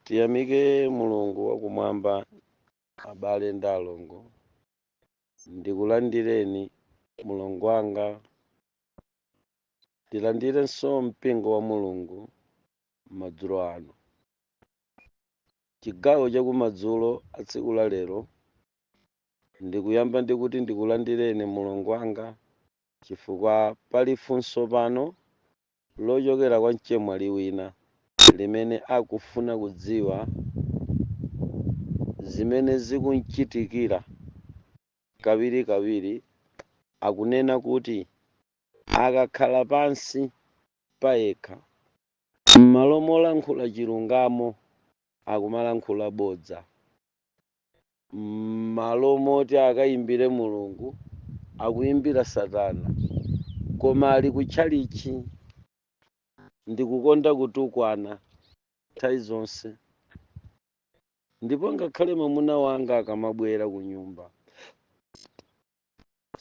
tiyamike mulungu wakumwamba abale ndi alongo ndikulandireni mlongo wanga tilandirenso mpingo wa mulungu madzulo ano chigawo chakumadzulo a tsiku la lero ndikuyamba ndikuti ndikulandireni mlongo wanga chifukwa pali funso pano lochokera kwa mchemwali wina limene akufuna kudziwa zimene zikum'chitikira kawirikawiri akunena kuti akakhala pansi payekha, m'malo molankhula chilungamo akumalankhula bodza. m'malo moti akayimbire Mulungu akuyimbira satana koma ali ku tchalitchi ndikukonda kutukwana nthawi zonse ndipo ngakhale mamuna wanga akamabwera kunyumba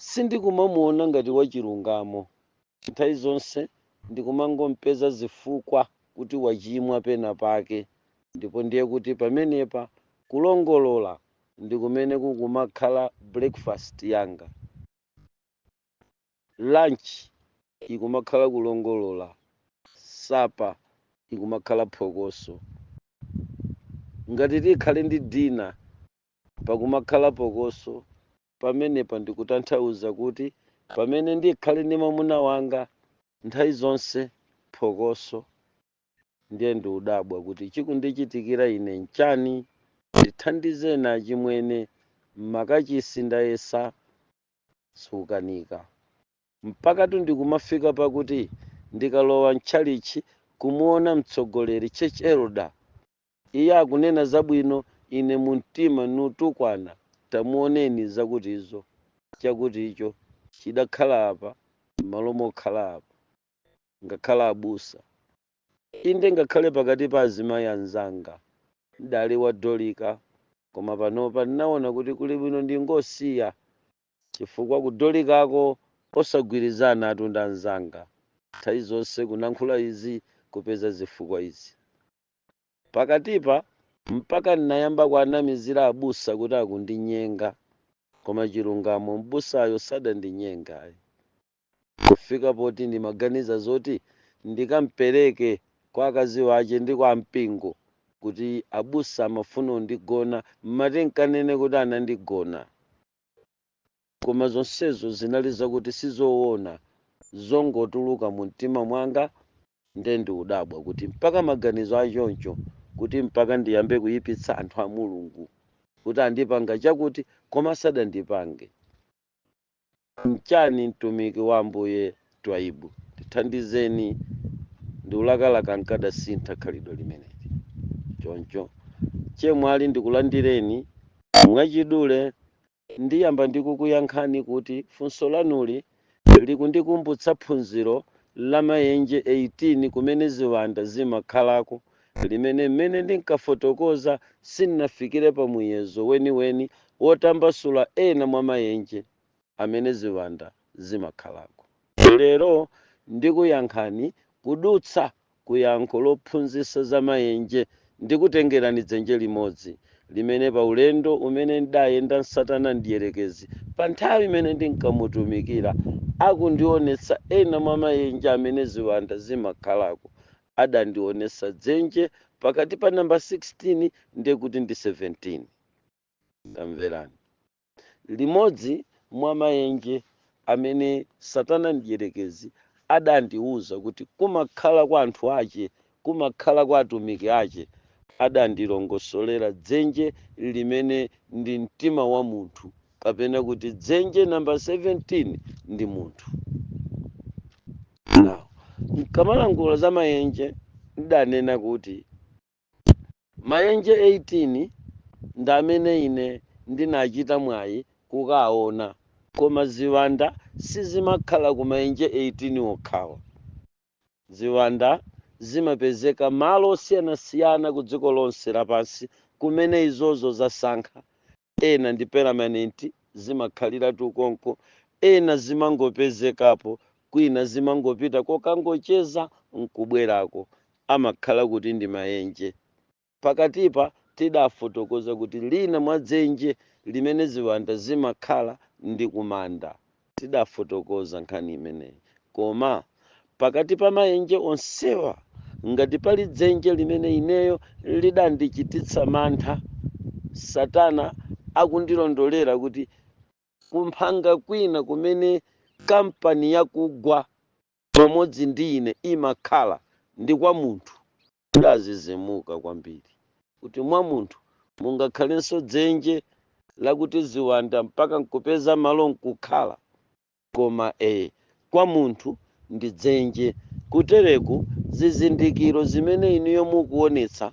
Sindikumamuona ngati wachilungamo. Nthawi zonse ndikumangom'peza zifukwa kuti wachimwa penapake, ndipo ndiye kuti pamenepa kulongolola ndi kumene kukumakhala breakfast yanga. Lunch ikumakhala kulongolola, supper ikumakhala phokoso. Ngati tikhale ndi dinner pakumakhala phokoso pamenepa ndikutanthauza kuti pamene ndikhale ndi mwamuna wanga nthawi zonse phokoso ndiye ndiudabwa kuti chikundichitikira ine nchani ndithandizeni achimwene m'makachisi ndayesa zikukanika mpakatu ndikumafika pakuti ndikalowa mtchalitchi kumuona mtsogoleri church elder Iye akunena zabwino, ine mu mtima nutukwana, tamuoneni zakutizo, chakuticho, chidakhala apa m'malo mokhala apa. Ngakhale abusa. Inde ngakhale pakati pa azimayi anzanga. N'dali wa Dolika koma panopa n'naona kuti kuli bwino ndingosiya chifukwa ku Dolikako osagwirizanatu ndi anzanga. Nthawi zonse kunankhula izi kupeza zifukwa izi. Pakatipa mpaka ndinayamba kuanamizira abusa kuti akundinyenga koma chilungamo m'busayo sadandinyenge ayi kufika poti ndimaganiza zoti ndikampereke kwa akazi wache ndi kwa ampingo kuti abusa amafuna undigona mmati nkanene kuti anandigona. Koma zonsezo zinali zakuti sizowona, zongotuluka mumtima mwanga nde ndiudabwa kuti mpaka maganizo achoncho kuti mpaka ndiyambe kuyipitsa anthu a Mulungu kuti andipanga chakuti koma sadandipange nchani mtumiki wa Ambuye Twaibu ndithandizeni ndiulakalaka nkadasintha khalidwe limeneli choncho chemwali ndikulandireni mwachidule Ndiyamba ndi kukuyankhani kuti funso lanuli likundikumbutsa phunziro la mayenje 18 kumene ziwanda zimakhalako limene mmene ndinkafotokoza sindinafikire pa muyezo weniweni wotambasula ena mwa mayenje amene ziwanda zimakhalako. Lero ndikuyankhani kudutsa ku yankho lophunzitsa za maenje ndikutengerani dzenje limodzi, limene pa ulendo umene ndidayenda ndi satana mdierekezi pa nthawi imene ndinkamutumikira akundionetsa ena mwa maenje amene ziwanda zimakhalako, adandionetsa dzenje pakati pa nambala 16 ndi kuti ndi 17. Tamverani. Limodzi mwa maenje amene Satana Mdyerekezi adandiwuza kuti kumakhala kwa anthu ache, kumakhala kwa atumiki ache, adandilongosolera dzenje limene ndi mtima wa munthu, kapena kuti dzenje namba 17 ndi munthu. Now, nkamalankhula za maenje, ndidanena kuti Mayenje 18 ndi amene ine ndinachita mwayi kukaona, koma ziwanda sizimakhala ku mayenje 18 okhawa. Ziwanda zimapezeka malo osiyanasiyana ku dziko lonse lapansi kumene izozo zasankha, ena ndi permanent zimakhaliratu konko ena zimangopezekapo kwina zimangopita kokangocheza nkubwerako amakhala kuti ndi maenje. Pakatipa tidafotokoza kuti lina mwa dzenje limene ziwanda zimakhala ndi kumanda. Tidafotokoza nkhani imeneyi koma pakati pa maenje onsewa ngati pali dzenje limene ineyo lidandichititsa mantha, satana akundilondolera kuti kumphanga kwina kumene kampani yakugwa pamodzi ndi ine imakhala ndi kwa munthu Ndazizimuka kwambiri kuti mwa munthu mungakhalenso dzenje lakuti ziwanda mpaka nkupeza malo nkukhala. Koma ee, kwa munthu ndi dzenje kutereku zizindikiro zimene inuyo mukuonetsa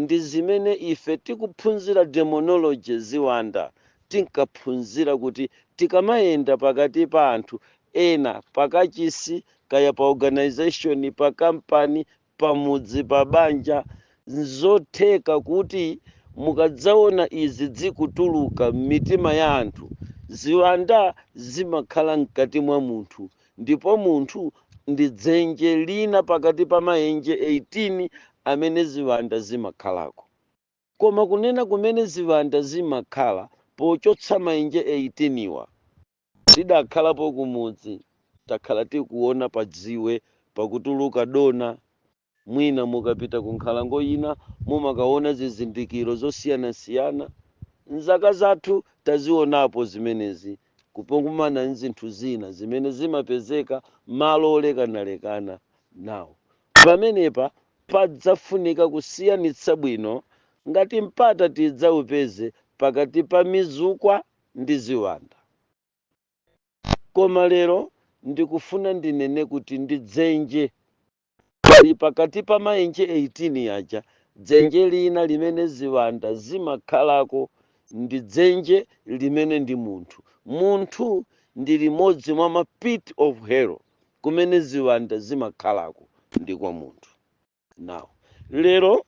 ndi zimene ife tikuphunzira demonology ziwanda tinkaphunzira kuti tikamayenda pakati pa anthu ena pakachisi kaya pa organization pa kampani pamudzi, pa banja, nzotheka kuti mukadzaona izi zikutuluka m'mitima ya anthu, ziwanda zimakhala mkati mwa munthu ndipo munthu ndi dzenje lina pakati pa maenje 18 amene ziwanda zimakhalako. Koma kunena kumene ziwanda zimakhala pochotsa maenje 18 wa, Tidakhalapo kumudzi, takhala tikuona padziwe pakutuluka dona. Mwina mukapita kunkhalango ina mumakaona zizindikiro zosiyanasiyana. M'zaka zathu tazionapo zimenezi kupokumana n'zinthu zina zimene zimapezeka malo olekanalekana. Now, pamenepa padzafunika kusiyanitsa bwino ngati mpata tidzaupeze pakati pa mizukwa ndi ziwanda. Koma lero ndikufuna ndinene kuti ndi dzenje pali pakati pa maenje 18 aja dzenje lina limene ziwanda zimakhalako ndi dzenje limene ndi munthu. Munthu ndi limodzi mwa ma pit of hell kumene ziwanda zimakhalako ndi kwa munthu. now lero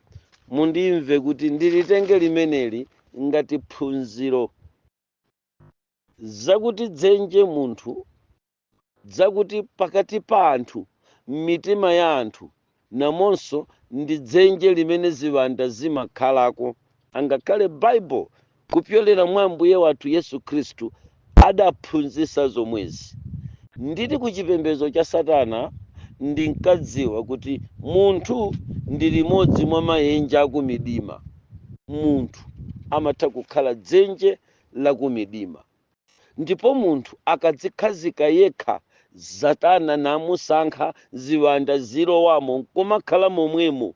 mundimve kuti ndilitenge limeneli ngati phunziro zakuti dzenje munthu zakuti pakati pa anthu m'mitima ya anthu namonso ndi dzenje limene ziwanda zimakhalako angakhale bible kupyolera mwa Ambuye wathu Yesu Khristu, adaphunzitsa zomwezi. Ndili ku chipembedzo cha Satana, ndinkadziwa kuti munthu ndi limodzi mwa maenje akumidima. Munthu amatha kukhala dzenje la kumidima. Ndipo munthu akadzikhazika yekha, Satana namusankha, ziwanda zilowamo nkumakhala momwemo,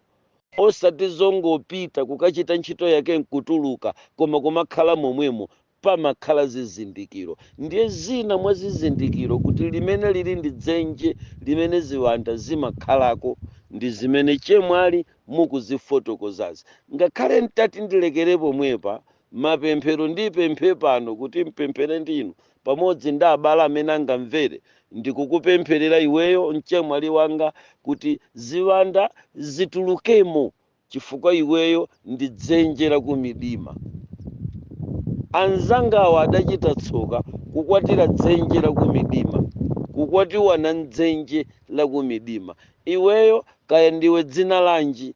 osati zongopita kukachita ntchito yake nkutuluka, koma kumakhala momwemo, pamakhala zizindikiro. Ndiye zina mwa zizindikiro kuti limeneli ndi dzenje limene ziwanda zimakhalako ndi zimene chemwali mukuzifotokozazi. Ngakhale ntati ndilekere pomwepa, Mapemphero, Ndipemphe pano kuti mpemphere ndi inu pamodzi ndi abale amene angamvere. Ndikukupempherera iweyo, mchemwali wanga, kuti ziwanda zitulukemo chifukwa iweyo ndi dzenje la kumidima. Anzangawa adachita tsoka kukwatira dzenje la kumidima, kukwatiwana m'dzenje la kumidima. Iweyo, kaya ndiwe dzina lanji,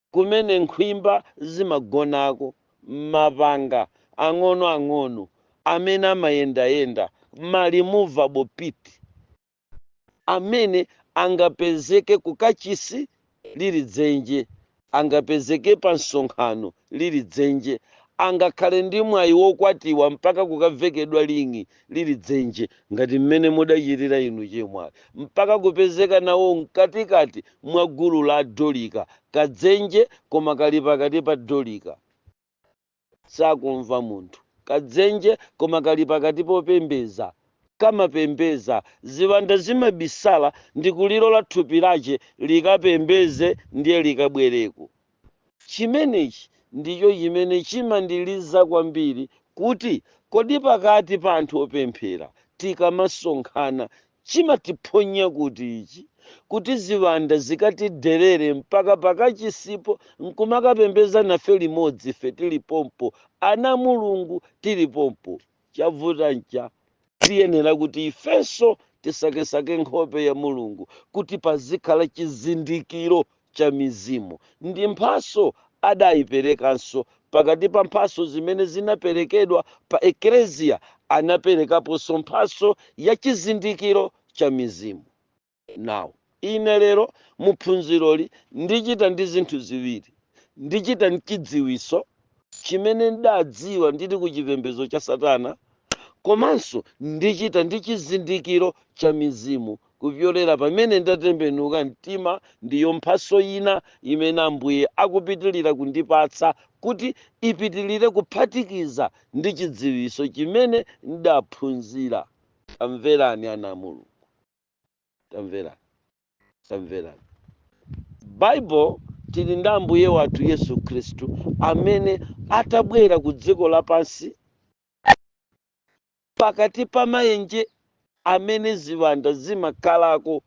kumene nkhwimba zimagonako, mapanga ang'onoang'ono amene amayendayenda, ma movable pit, amene angapezeke ku kachisi lili dzenje, angapezeke pa msonkhano lili dzenje, angakhale ndi mwayi wokwatiwa mpaka kukavekedwa ring'i lili dzenje ngati mmene mudachitira inu chemwali mpaka kupezeka nawo mkatikati mwa gulu la adolika, kadzenje koma kali pakati pa dolika. Sakumva munthu, kadzenje koma kali pakati popembeza, kamapembeza, ziwanda zimabisala ndikulilola thupi lache likapembeze ndiye likabwereko. Chimenechi ndicho chimene chimandiliza kwambiri kuti kodi pakati pa anthu opemphera tikamasonkhana chimatiphonya kuti ichi kuti ziwanda zikatiderere mpaka pakachisipo nkumakapembeza nafe limodzi ife tili pompo, ana a Mulungu tili pompo. Chavuta ncha, tiyenera kuti ifenso tisakesake nkhope ya Mulungu kuti pazikhala chizindikiro cha mizimu. Ndi mphaso adaiperekanso. Pakati pa mphaso zimene zinaperekedwa pa Eklezia anaperekaponso mphaso ya chizindikiro cha mizimu. Now. Ine lero mu phunziroli ndichita ndi zinthu ziwiri. Ndichita ndi chidziwiso chimene ndadziwa ndili ku chipembedzo cha Satana komanso ndichita ndi chizindikiro cha mizimu kupyolera pamene ndatembenuka mtima ndiyo mphaso ina imene Ambuye akupitilira kundipatsa kuti ipitilire kuphatikiza ndi chidziwiso chimene ndaphunzira. Tamverani ana a Mulungu. tamverani tamverani bible tili ndi ambuye wathu yesu khristu amene atabwera ku dziko lapansi pakati pa maenje amene ziwanda zimakhalako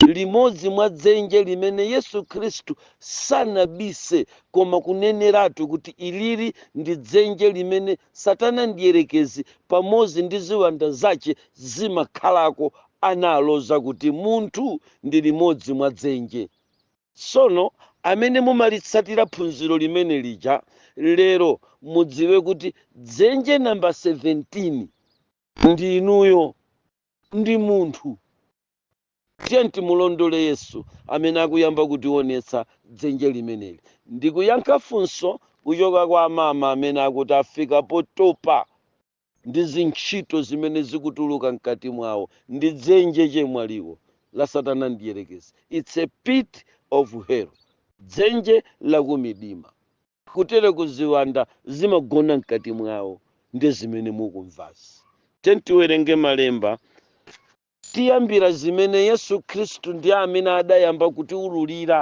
limodzi mwa dzenje limene yesu khristu sanabise koma kuneneratu kuti ilili ndi dzenje limene satana mdierekezi pamodzi ndi ziwanda zache zimakhalako analoza kuti munthu ndi limodzi mwa dzenje. Tsono amene mumalitsatira phunziro limene lija lero mudziwe kuti dzenje number 17 ndi inuyo ndi munthu. Tiyeni timulondole Yesu amene akuyamba kutionetsa dzenje limeneli. Ndikuyankha funso kuchoka kwa amama amene akuti afika potopa ndi zintchito zimene zikutuluka mkati mwawo ndi dzenje chemwaliwo la satana mdierekezi it's a pit of hell dzenje lakumidima kutere kuti ziwanda zimagona mkati mwawo ndi zimene mukumvazi tiyeni tiwerenge malemba tiyambira zimene yesu khristu ndi amene adayamba kutiwululira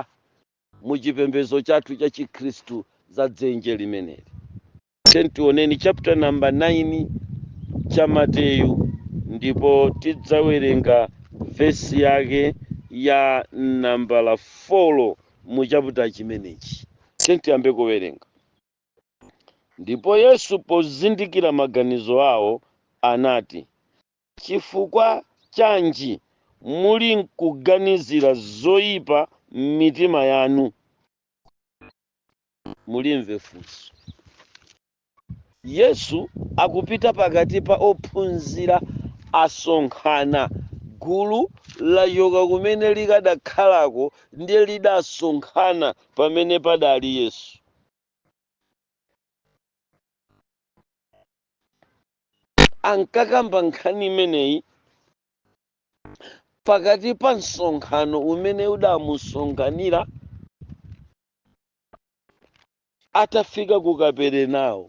mu chipembedzo chathu cha chikhristu za dzenje limeneli Tiyeni tioneni chapter number 9 cha Mateyu ndipo tidzawerenga vesi yake ya nambala 4 mu chaputa chimenechi. Tiyeni tiyambe kuwerenga. Ndipo Yesu pozindikira maganizo awo anati, Chifukwa chanji muli nkuganizira zoyipa m'mitima yanu? mulimve funso. Yesu akupita pakati pa ophunzira asonkhana gulu lachoka kumene likadakhalako ndiye lidasonkhana pamene padali Yesu. Ankakamba nkhani imeneyi pakati pa msonkhano umene udamusonkhanira atafika ku kaperenawo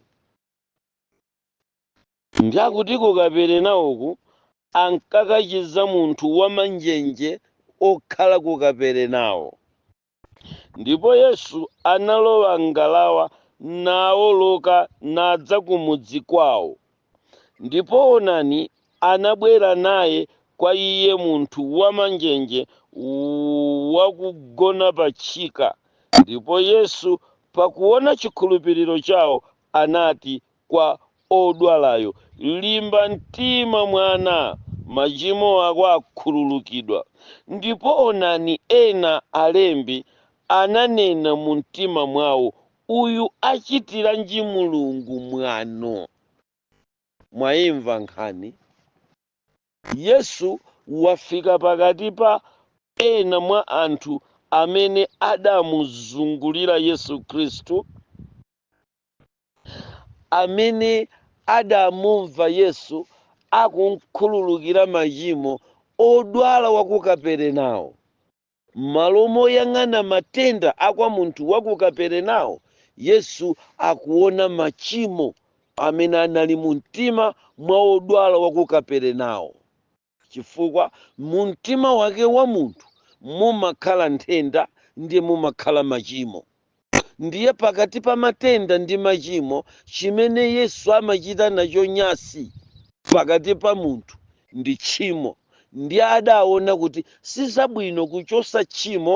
ndiye akuti ku kaperenawoku ankakachiza munthu wamanjenje okhala ku kaperenawo ndipo yesu analowa m'ngalawa naoloka nadza ku mudzi kwawo Ndipo onani, anabwera naye kwa iye munthu wamanjenje wakugona patchika, ndipo Yesu, pakuona chikhulupiriro chawo, anati kwa odwalayo, Limba mtima, mwana, machimo ako akhululukidwa. Ndipo onani, ena, alembi, ananena mumtima mwawo, Uyu achitiranji Mulungu mwano? Mwaimva nkhani? Yesu wafika pakati pa ena mwa anthu amene adamuzungulira Yesu Khristu, amene adamumva Yesu akumkhululukira machimo odwala wa ku Kaperenawo, M'malo moyang'ana matenda akwa munthu wa ku Kaperenao, Yesu akuona machimo amene anali mumtima mwa wodwala wa ku Kaperenao, chifukwa mumtima wake wa munthu mumakhala nthenda ndiye mumakhala machimo. ndiye pakati pa matenda ndi machimo chimene yesu amachita nacho nyasi pakati pa munthu ndi tchimo ndiye adaona kuti sizabwino kuchosa tchimo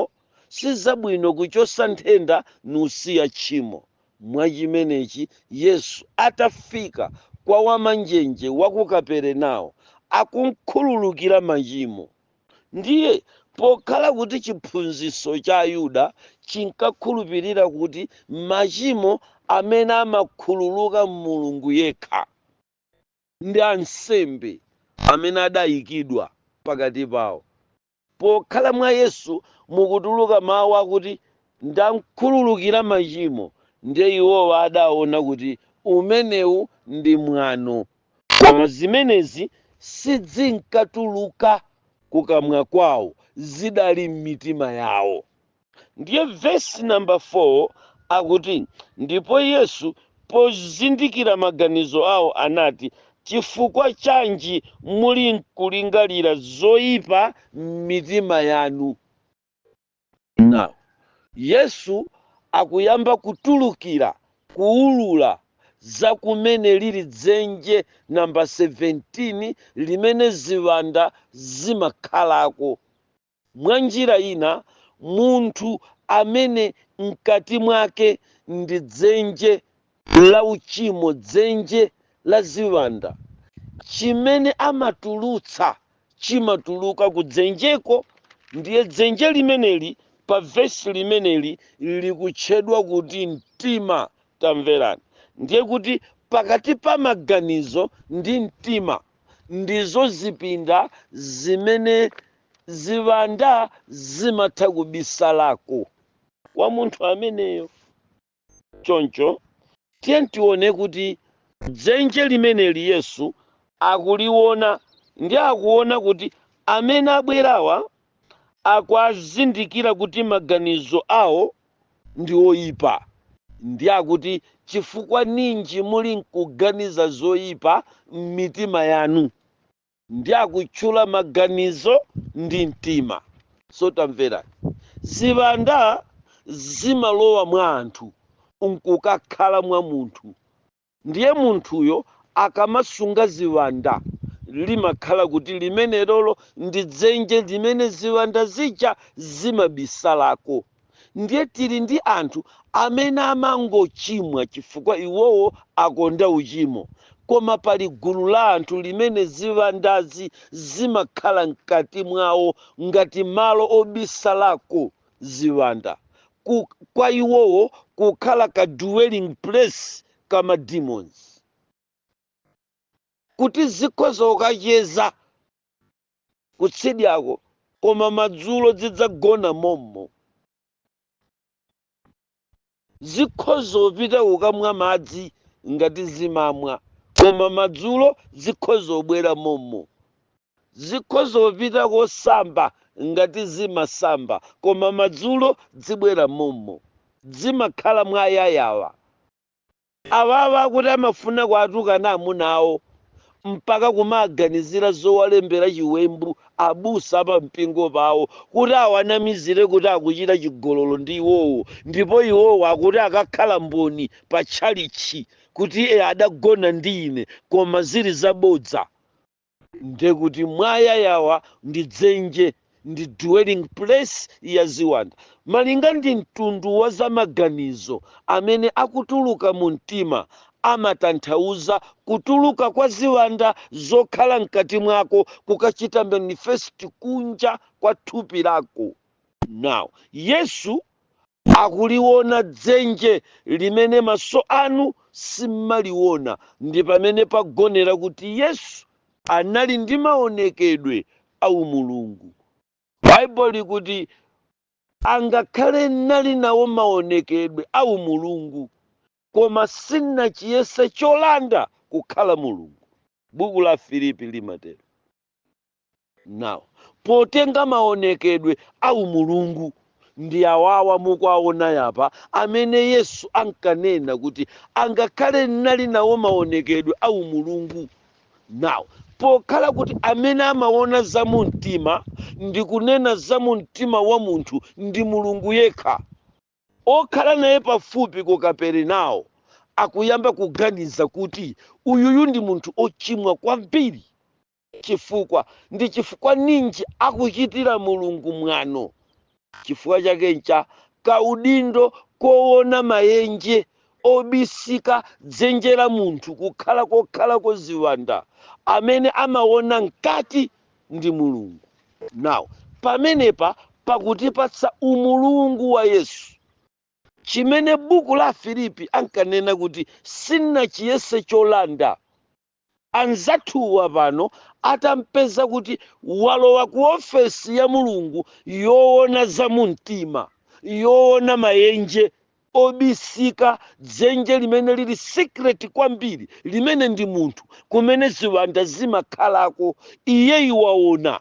sizabwino kuchosa nthenda nusiya tchimo mwachimenechi yesu atafika kwa wamanjenje wa ku kaperenawo akumkhululukira machimo Ndiye, pokhala kuti chiphunzitso cha Ayuda chinkakhulupirira kuti machimo amene amakhululuka m'Mulungu yekha ndi ansembe amene adayikidwa pakati pawo, pokhala mwa Yesu mukutuluka mawu akuti ndamkhululukira machimo, ndiye iwowa adaona kuti umenewu ndi mwano Koma zimenezi sizinkatuluka kukamwa kwawo, zidali m'mitima yawo. Ndiye vesi namba 4 akuti, Ndipo Yesu pozindikira maganizo awo anati, Chifukwa chanji mulinkulingalira zoipa m'mitima yanu? Now, Yesu akuyamba kutulukira, kuwulula za kumene liri dzenje namba 17 limene ziwanda zimakhalako. Mwanjira ina, munthu amene mkati mwake ndi dzenje la uchimo, dzenje la ziwanda, chimene amatulutsa chimatuluka ku dzenjeko, ndiye dzenje limeneli pa vesi limeneli likutchedwa kuti mtima. Tamverani, ndiye kuti pakati pa maganizo ndi mtima ndizo zipinda zimene ziwanda zimatha kubisalako kwa munthu ameneyo. Choncho tiye tione kuti dzenje limeneli Yesu akuliona ndi akuona kuti amene abwerawa akuazindikira kuti maganizo awo ndi oipa. Ndi akuti chifukwa ninji muli nkuganiza zoipa m'mitima yanu? ndi akutchula maganizo ndi mtima so tamverani ziwanda zimalowa mwa anthu nkukakhala mwa munthu ndiye munthuyo akamasunga ziwanda limakhala kuti limenelolo ndi dzenje limene ziwanda zija zimabisalako Ndiye tili ndi anthu amene amangochimwa chifukwa iwowo akonda uchimo, koma pali gulu la anthu limene ziwandazi zimakhala mkati mwawo ngati malo obisalako ziwanda, kwa iwowo kukhala ka dwelling place ka ma demons, kuti zikhoza kukacheza. kutsidyako, koma madzulo zidzagona mommo. Zikhoza kupita kukamwa madzi ngati zimamwa, koma madzulo zikhoza kubwera mommo. Zikhoza kupita kosamba ngati zimasamba, koma madzulo dzibwera mommo. Dzimakhala mwa yayawa. Awawa akuti amafuna kuatukana amuna awo mpaka kumaganizira zowalembera chiwembu abusa a pampingo pawo kuti awanamizire kuti akuchita chigololo ndi iwowo ndipo iwowo akuti akakhala mboni pa tchalitchi kuti adagona ndi ine koma zili zabodza. ndekuti mwayayawa ndi dzenje ndi dwelling place ya ziwanda malinga ndi mtundu wa zamaganizo amene akutuluka mu mtima amatanthauza kutuluka kwa ziwanda zokhala mkati mwako kukachita manifest kunja kwa thupi lako now yesu akuliona dzenje limene maso anu simmaliona ndi pamene pagonera kuti Yesu anali ndi maonekedwe a umulungu. Bible likuti angakhale nali nawo maonekedwe a umulungu koma sinachiyese cholanda kukhala Mulungu, buku la Afilipi limatero. Now potenga maonekedwe a umulungu. Ndi awawa mukuwaona yapa amene Yesu ankanena kuti angakhale nali nawo maonekedwe a umulungu. Now pokhala kuti amene amaona za mumtima ndi kunena za mumtima wa munthu ndi Mulungu yekha, okhala naye pafupi ku Kaperenawo akuyamba kuganiza kuti uyuyu ndi munthu ochimwa kwambiri. chifukwa. Ndi chifukwa ninji akuchitira Mulungu mwano? Chifukwa chake ncha kaudindo kowona mayenje obisika dzenje la munthu kukhala kokhalako ziwanda, amene amawona mkati ndi Mulungu. Now pamenepa pakutipatsa umulungu wa Yesu. Chimene buku la Afilipi ankanena kuti sanachiyese cholanda anzathuwa pano atampeza kuti walowa ku ofesi ya Mulungu yoona za mumtima, yoona mayenje obisika, dzenje limene lili secret kwambiri, limene ndi munthu, kumene ziwanda zimakhalako, iyeyu waona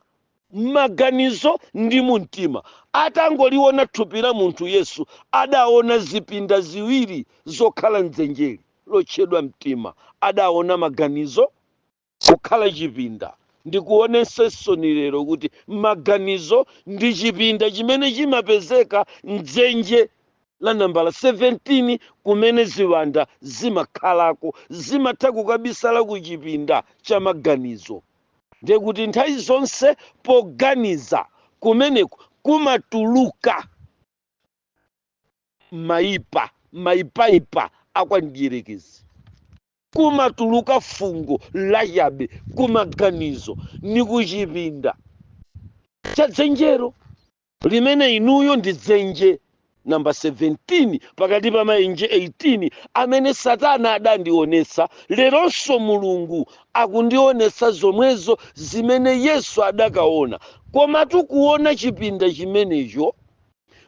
maganizo ndi mu mtima. Atangoliona thupi la munthu Yesu adaona zipinda ziwiri zokhala m'dzenjeli lotchedwa mtima. Adaona maganizo kukhala chipinda. Ndikuonetsensoni lero kuti maganizo ndi chipinda chimene chimapezeka m'dzenje la nambala 17 kumene ziwanda zimakhalako. Zimatha kukabisala ku chipinda cha maganizo. Ndiye kuti nthawi zonse poganiza kumeneku kumatuluka maipa maipaipa a kwa mdierekezi kumatuluka fungo lachabe kumaganizo ni kuchipinda cha dzenjero limene inuyo ndi dzenje namba 17 pakati pa mayenje 18 amene satana adandionetsa leronso mulungu akundionetsa zomwezo zimene yesu adakaona komatu kuona chipinda chimenecho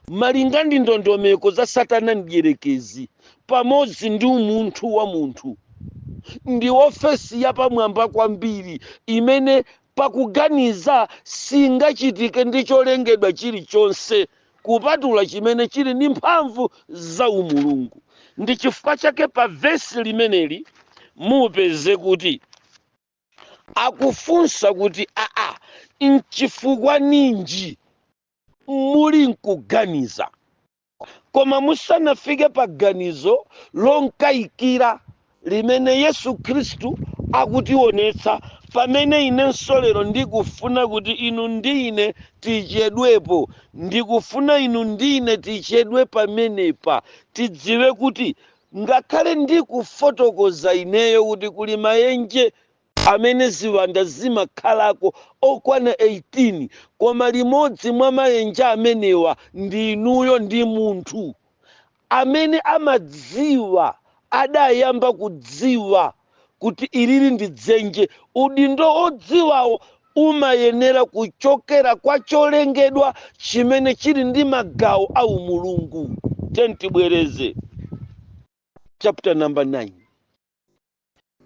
malinga ndi ndondomeko za satana mdyerekezi pamodzi ndi umunthu wa munthu ndi ofesi yapamwamba kwambiri imene Pakuganiza singachitike ndi cholengedwa chirichonse kupatula chimene chiri ndi mphamvu za umulungu. Ndi chifukwa chake pa vesi limeneli mupeze kuti akufunsa kuti aa, nchifukwa ninji muli nkuganiza? koma musanafike pa ganizo lonkayikira limene yesu khristu akutionetsa pamene inenso lero ndikufuna kuti inu ndi ine tichedwepo ndikufuna inu ndi ine tichedwe pamenepa tidziwe kuti ngakhale ndikufotokoza ineyo kuti kuli mayenje amene ziwanda zimakhalako okwana 18, koma limodzi mwa mayenje amenewa ndi inuyo ndi munthu amene amadziwa adayamba kudziwa kuti ilili ndi dzenje. Udindo wodziwawo umayenera kuchokera kwa cholengedwa chimene chili ndi magawo a umulungu. Tiyeni tibwereze chapter number 9.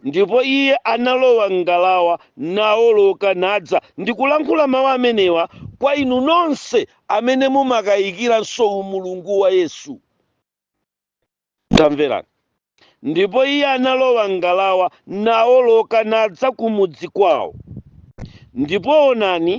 Ndipo iye analowa m'ngalawa, nawoloka, nadza, ndikulankhula mawu amenewa kwa inu nonse amene mumakayikiranso umulungu wa Yesu. Tamverani! Ndipo iye analowa m'ngalawa, nawoloka, nadza ku mudzi kwawo. Ndipo onani!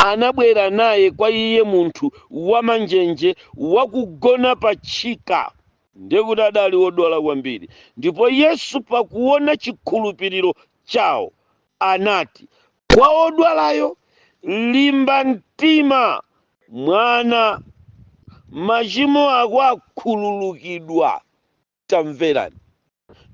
anabwera naye kwa iye munthu wamanjenje wakugona pa tchika, ndiye kuti adali wodwala kwambiri, ndipo Yesu pakuona chikhulupiriro chawo anati kwa wodwalayo, Limba mtima, mwana, machimo ako akhululukidwa. tamverani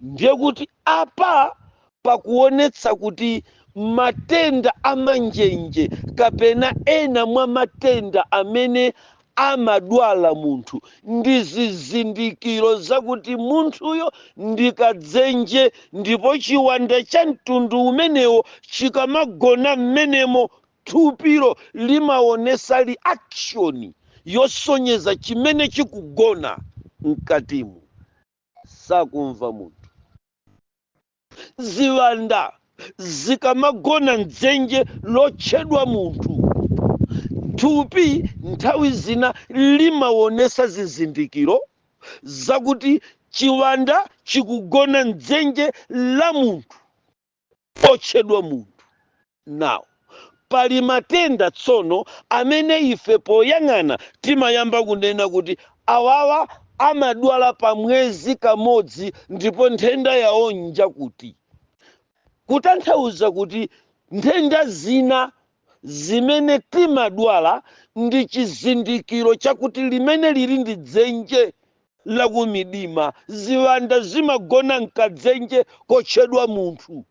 ndiye kuti apa pakuonetsa kuti matenda a manjenje kapena ena mwa matenda amene amadwala munthu ndi zizindikiro zakuti munthuyo ndi kadzenje ndipo chiwanda cha mtundu umenewo chikamagona mmenemo thupilo limaonetsa reaction yosonyeza chimene chikugona mkatimu sakumva munthu ziwanda zikamagona mdzenje lotchedwa munthu thupi nthawi zina limaonetsa zizindikiro zakuti chiwanda chikugona mdzenje la munthu otchedwa munthu. Now, pali matenda tsono amene ife poyang'ana timayamba kunena kuti awawa amadwala pa mwezi kamodzi ndipo nthenda yawo njakuti. Kutanthauza kuti nthenda zina zimene timadwala ndi chizindikiro chakuti limene lili ndi dzenje la kumidima. Ziwanda zimagona mkadzenje kotchedwa munthu.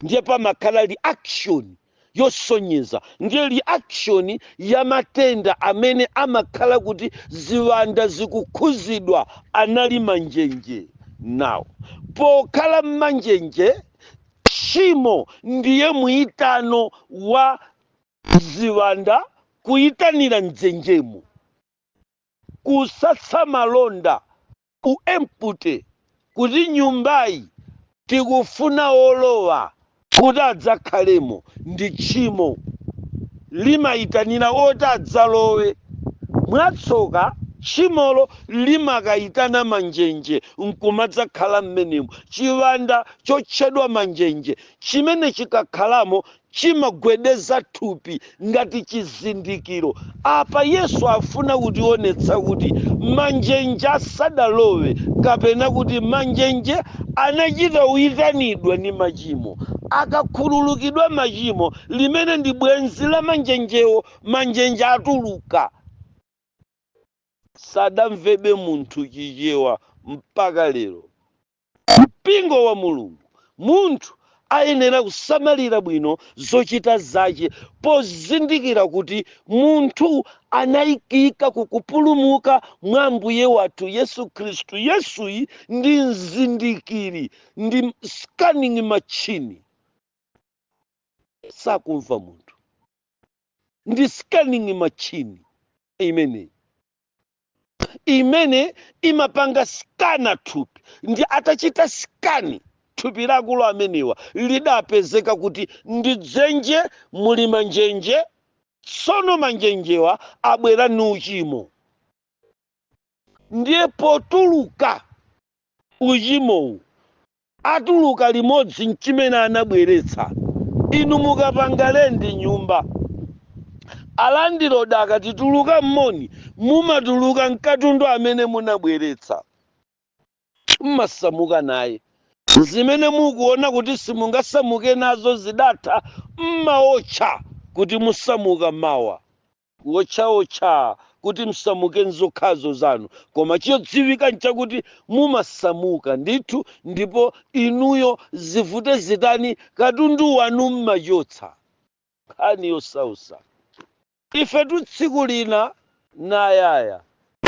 Ndiye pamakhala reaction yosonyeza ndiye reaction ya matenda amene amakhala kuti ziwanda zikukhuzidwa anali manjenje. Now, pokhala mmanjenje Tchimo ndiye muitano wa ziwanda kuitanira m'dzenjemo, kusatsa malonda ku empty kuti nyumbayi tikufuna olowa kuti adzakhalemo ndi tchimo limaitanira oti adzalowe mwatsoka tchimolo limakaitana manjenje nkumadzakhala m'menemo chiwanda chotchedwa manjenje chimene chikakhalamo chimagwedeza thupi ngati chizindikiro. Apa Yesu afuna kutionetsa kuti manjenje asadalowe kapena kuti manjenje anachita uyitanidwa ndi machimo. Akakhululukidwa machimo, limene ndi bwenzi la manjenjewo, manjenje atuluka. Sadamvebe munthu Chichewa mpaka lero. mpingo wa Mulungu. Munthu ayenera kusamalira bwino zochita zache pozindikira kuti munthu anaikika kukupulumuka mwa Ambuye wathu Yesu Khristu. Yesuyi ndi mzindikiri, ndi scanning machine. Sakumva munthu. Ndi scanning machine imeneyi. imene imapanga sikana thupi ndi atachita sikani thupi la akulu amenewa lidapezeka kuti ndi dzenje muli manjenje tsono manjenjewa abwera ni uchimo ndiye potuluka uchimowu atuluka limodzi nchimene anabweretsa. Inu mukapanga lendi nyumba, alandiroda akati tuluka m'muno, mumatuluka nkatundu amene munabweretsa. Mmasamuka naye. Zimene mukuona kuti simungasamuke nazo zidatha, mmaotcha kuti musamuke mawa. kuotchaotcha kuti msamuke nzokhazo zanu koma chodziwika nchakuti mumasamuka ndithu ndipo inuyo zivute zitani katundu wanu mmachotsa. nkhani yosausa. Ifetu tsiku lina nayaya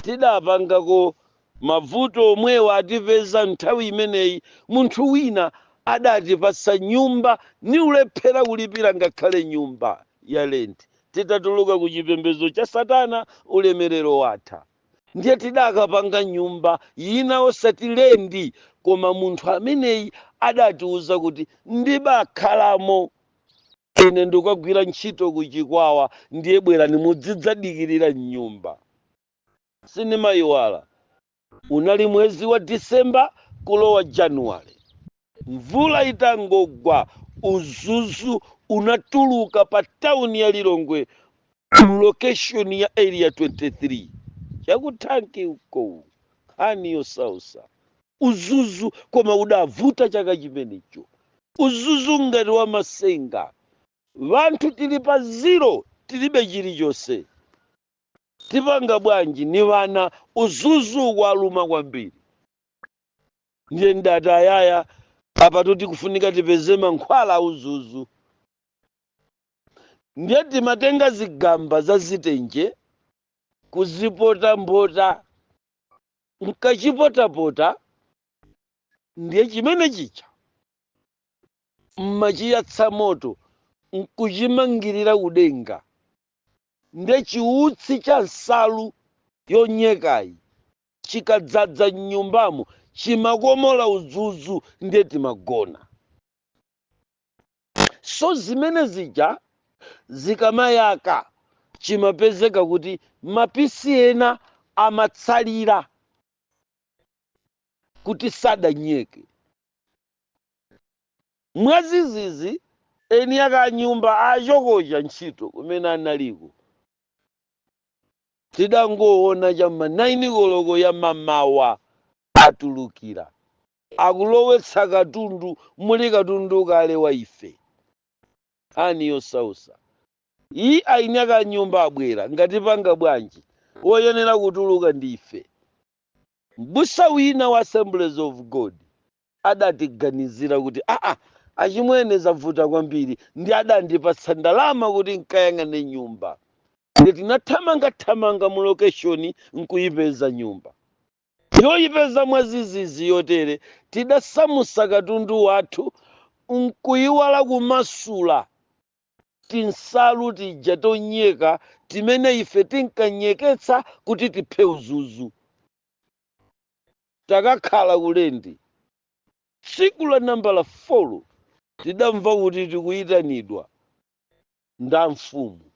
tidapangako mavuto omwewo atipeza mnthawi imeneyi munthu wina adatipatsa nyumba ni ulephera kulipira ngakhale nyumba ya lendi titatuluka ku chipembezo cha satana ulemelero watha ndiye tidakapanga nyumba yina osati lendi koma munthu ameneyi adatiuza kuti ndibakhalamo Ine ndikagwira ntchito ku Chikwawa ndiye bwerani mudzidzadikirira m'nyumba. Sinimaiwala, unali mwezi wa December kulowa January. Mvula itangogwa, uzuzu unatuluka pa tauni ya Lilongwe mu location ya Area 23. Cha ku thanki uko, nkhani yosausa. uzuzu koma udavuta chaka chimenecho uzuzu ngati wamasenga vanthu tili pa zero tilibe chilichonse tipanga bwanji ni vana uzuzu waluma kwambiri ndiye ndati ayaya apatu tikufunika tipeze mankhwala a uzuzu ndiye timatenga zigamba za zitenje kuzipotapota N'kachipotapota ndiye chimene chija m'machiyatsa moto n'kuchimangirira kudenga. Ndiye chiutsi cha nsalu yonyekayi chikadzadza m'nyumbamo chimakomola uzuzu ndiye timagona. so zimene zija zikamayaka chimapezeka kuti mapisi ena amatsalira kuti sadanyeke mwazizizi eni ake nyumba achokocha ntchito kumene analiko tidangoona cha m'ma 9 koloko ya mamawa atulukira akulowetsa katundu muli katundu kale wa ife nkhani yosausayi eni ake nyumba abwera nanga tipanga bwanji woyenera kutuluka ndi ife m'busa wina wa assemblies of god adatiganizira kuti aa achimwene zavuta kwambiri nde adandipatsa ndalama kuti nkayang'ane nyumba nde tinathamangathamanga mu lokeshoni nkuyipeza nyumba Yoipeza mwazizizi yotere, tidasamusa katundu wathu n'kuiwala kumasula tinsalu tija tonyeka timene ife tinkanyeketsa kuti tiphe uzuzu. Takakhala ku lendi. Tsiku la nambala folo tidamva kuti tikuitanidwa ndi amfumu.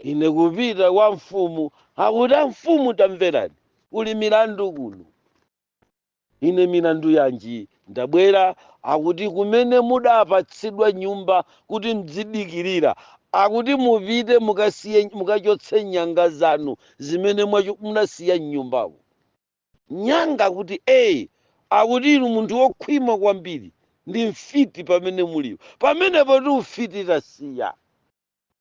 ine kupita kwa mfumu akuti amfumu tamverani kuli milandu kuno ine milandu yanji ndabwera akuti kumene mudapatsidwa nyumba kuti mdzidikirira akuti mupite mukasiye mukachotse nyanga zanu zimene mwacho- munasiya mnyumbamo nyanga akuti ee akuti inu munthu wokhwima kwambiri ndi mfiti pamene mulipo pamenepo ti ufiti tasiya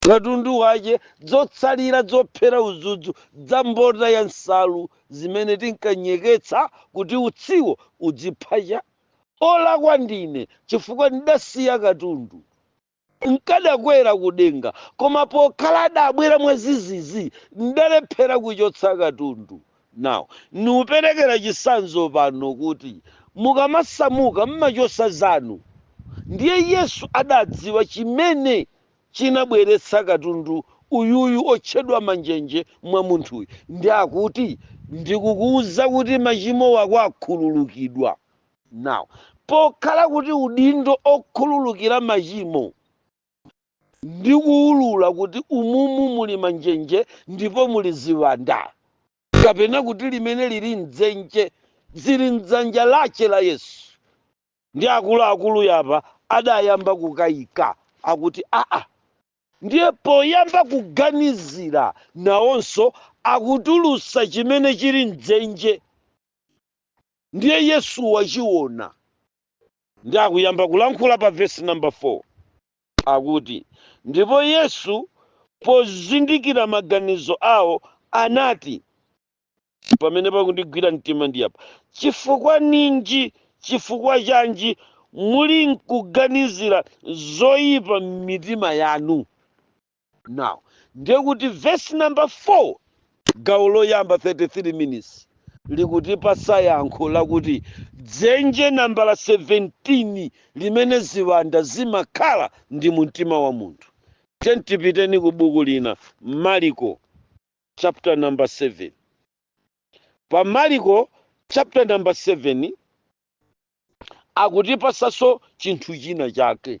katundu wache, dzotsalira dzophera udzudzu dza mbota ya nsalu zimene tinkanyeketsa kuti utsiwo udzipha cha olakwa ndine chifukwa ndidasiya katundu nkadakwera kudenga koma pokhala adabwera mwazizizi ndalephera kuchotsa katundu Now, nikuperekera chisanzo pano kuti mukamasamuka mmachosa zanu ndiye Yesu adadziwa chimene chinabweretsa katundu uyuyu otchedwa manjenje mwa munthuyu ndi akuti ndikukuuza kuti machimo wako akhululukidwa. Now, pokhala kuti udindo okhululukira machimo ndi kuwulula kuti umumu muli manjenje ndipo muli ziwanda kapena kuti limene lili mdzenje zili mdzanja lache la yesu ndi akuluakulu yapa adayamba kukayika akuti aa ndiye poyamba kuganizira nawonso akutulusa chimene chili mdzenje ndiye yesu wachiona ndi akuyamba kulankhula pa vesi namba 4 akuti ndipo yesu pozindikira maganizo awo anati pamene pakundigwira mtima ndi apa chifukwa ninji chifukwa chanji muli nkuganizira zoyipa m'mitima yanu now ndiye kuti verse number 4 gawo loyamba 33 minutes likutipasa yankho lakuti dzenje nambala 17 limene ziwanda zimakhala ndi mumtima wa munthu tiyeni tipiteni ku buku lina mariko chapter number 7 pa mariko chapter number 7 akutipasanso chinthu china chake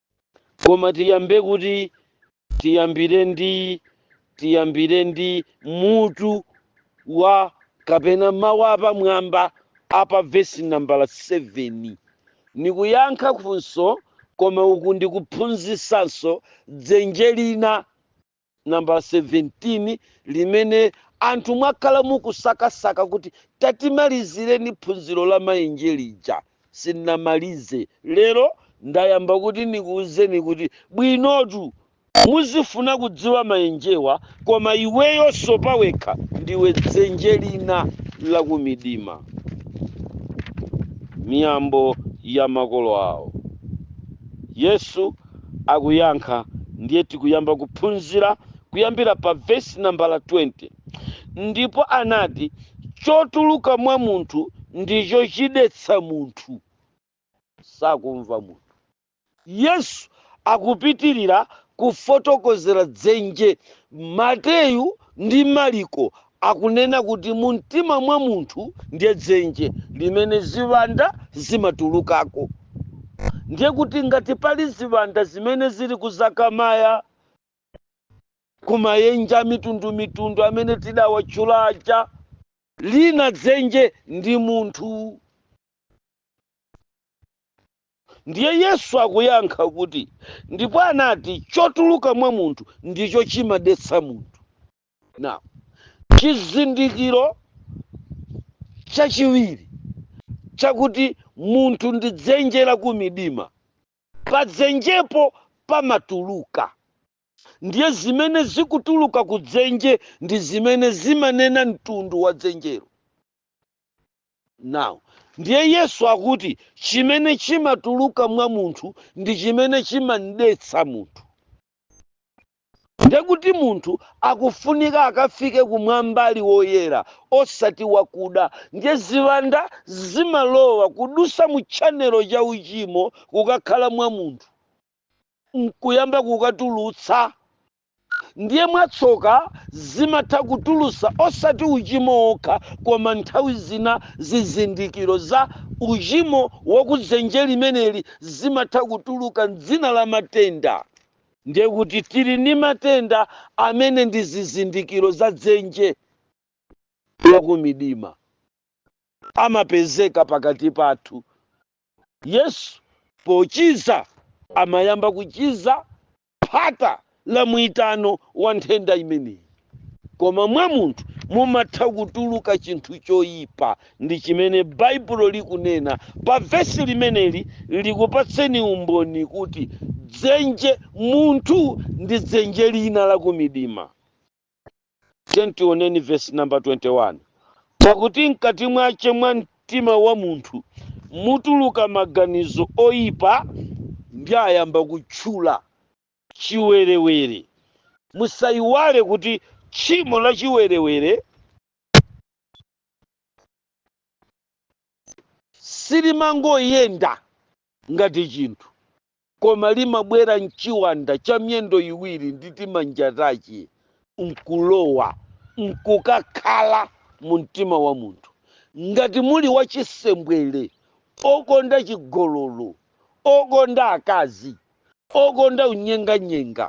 koma tiyambe kuti tiyambire ndi tiyambire ndi mutu wa kapena mawu apamwamba apa vesi nambala 7 nikuyankha funso koma uku ndikuphunzisanso dzenje lina nambala 17 limene anthu mwakhala mukusakasaka kuti tatimalizireni phunziro la mayenje lija sindinamalize lero ndayamba kuti nikuuzeni kuti bwinotu muzifuna kudziwa mayenjewa koma iweyonso pawekha ndiwe dzenje lina lakumidima miyambo ya makolo awo yesu akuyankha. Ndiye tikuyamba kuphunzira kuyambira pa vesi nambala 20. Ndipo anati, Chotuluka mwa munthu ndicho chidetsa munthu. Tsatu mwa munthu. Yesu akupitirira kufotokozera dzenje. Mateyu ndi Maliko akunena kuti mumtima mwa munthu ndiye dzenje limene ziwanda zimatulukako. Ndiye kuti ngati pali ziwanda zimene zili ku Zakamaya, ku mayenje amitundumitundu amene tidawatchula aja, lina dzenje ndi munthu. Ndiye Yesu akuyankha kuti, ndipo anati chotuluka mwa munthu ndicho chimadetsa munthu. now chizindikiro chachiwiri chakuti munthu ndi dzenje la kumidima padzenjepo pamatuluka ndiye zimene zikutuluka ku dzenje ndi zimene zimanena mtundu wa dzenjero now ndiye yesu akuti chimene chimatuluka mwa munthu ndi chimene chimamdetsa munthu Ndiye kuti munthu akufunika akafike kumwamba ali woyera osati wakuda. Ndiye ziwanda zimalowa kudusa mu channel cha uchimo kukakhala mwa munthu nkuyamba kukatulutsa. Ndiye mwatsoka zimatha kutulusa osati uchimo wokha koma nthawi zina zizindikiro za uchimo wa kudzenje limeneli zimatha kutuluka m'dzina la matenda. ndiye kuti tili ndi matenda amene ndi zizindikiro za dzenje lakumidima amapezeka pakati pathu yesu pochiza amayamba kuchiza phata la muitano wa nthenda imeneyi koma mwa munthu mumatha kutuluka chinthu choyipa ndi chimene baibulo likunena pa vesi limeneli likupatseni umboni kuti dzenje munthu ndi dzenje lina lakumidima tioneni vesi namba 21 pakuti mkati mwache mwa mtima wa munthu mutuluka maganizo oyipa ndi ayamba kutchula chiwerewere. Musaiwale kuti tchimo la chiwerewere silimangoyenda ngati chinthu, koma limabwera mchiwanda cha miyendo iwiri ndi timanja tache nkulowa nkukakhala mu mtima wa munthu. Ngati muli wachisembwere, okonda chigololo, okonda akazi, okonda unyenganyenga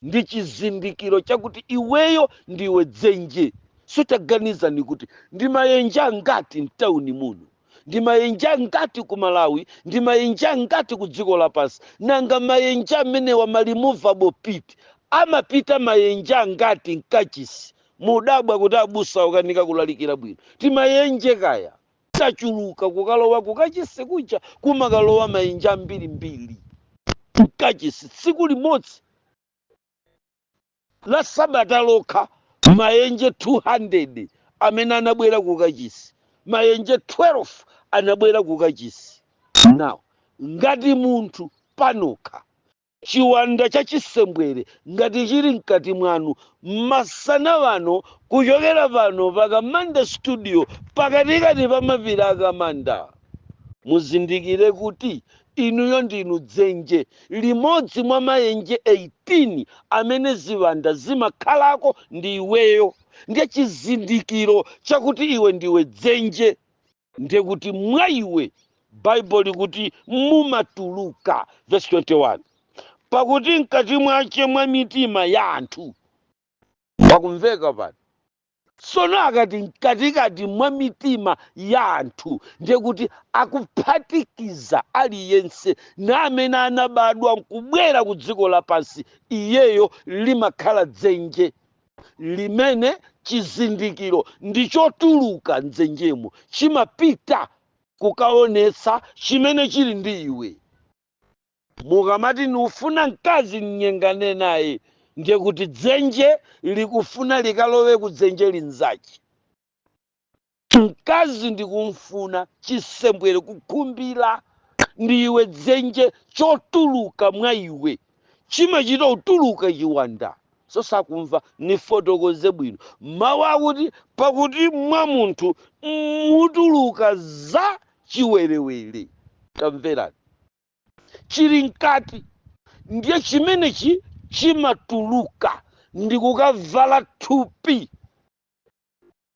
ndi chizindikiro chakuti iweyo ndiwe dzenje sono taganizani kuti ndi mayenje angati mtauni muno ndi mayenje angati ku malawi ndi mayenje angati ku dziko lapansi nanga mayenje amenewa ma movable pit amapita mayenje angati mkachisi mudabwa kuti abusa akukanika kulalikira bwino timayenje kaya tachuluka kukalowa kukachisi kuja kumakalowa mayenje ambirimbiri mkachisi tsiku limodzi la sabata lokha mayenje 200 amene anabwera kukachisi mayenje 12 anabwera kukachisi now ngati munthu panokha Chiwanda cha chisembwere ngati chili mkati mwanu masana ano kuchokera pano pa Kamanda studio pakatikati pa mapiri a Kamanda muzindikire kuti inuyo ndinu dzenje limodzi mwa mayenje 18 amene ziwanda zimakhalako ndi iweyo ndiye chizindikiro chakuti iwe ndiwe dzenje ndi kuti mwa iwe baibulo likuti mumatuluka vesi 21 pakuti mkati mwache mwa mitima ya anthu pakumveka pano sono akati mkatikati mwa mitima ya anthu ndiye kuti akuphatikiza aliyense na amene anabadwa nkubwera ku dziko lapansi iyeyo limakhala dzenje limene chizindikiro ndi chotuluka mdzenjemo chimapita kukaonetsa chimene chili ndi iwe mukamati nikufuna mkazi mnyengane naye ndiye kuti dzenje likufuna likalowe ku dzenje linzache Mkazi ndikumfuna, chisembwere, kukhumbira, ndiwe dzenje chotuluka mwa iwe, chimachita kutuluka chiwanda. So sakumva, nifotokoze bwino. Mawu akuti, pakuti mwa munthu mutuluka za chiwerewere. Tamverani. Chili mkati ndiye chimenechi chimatuluka ndikukavala thupi.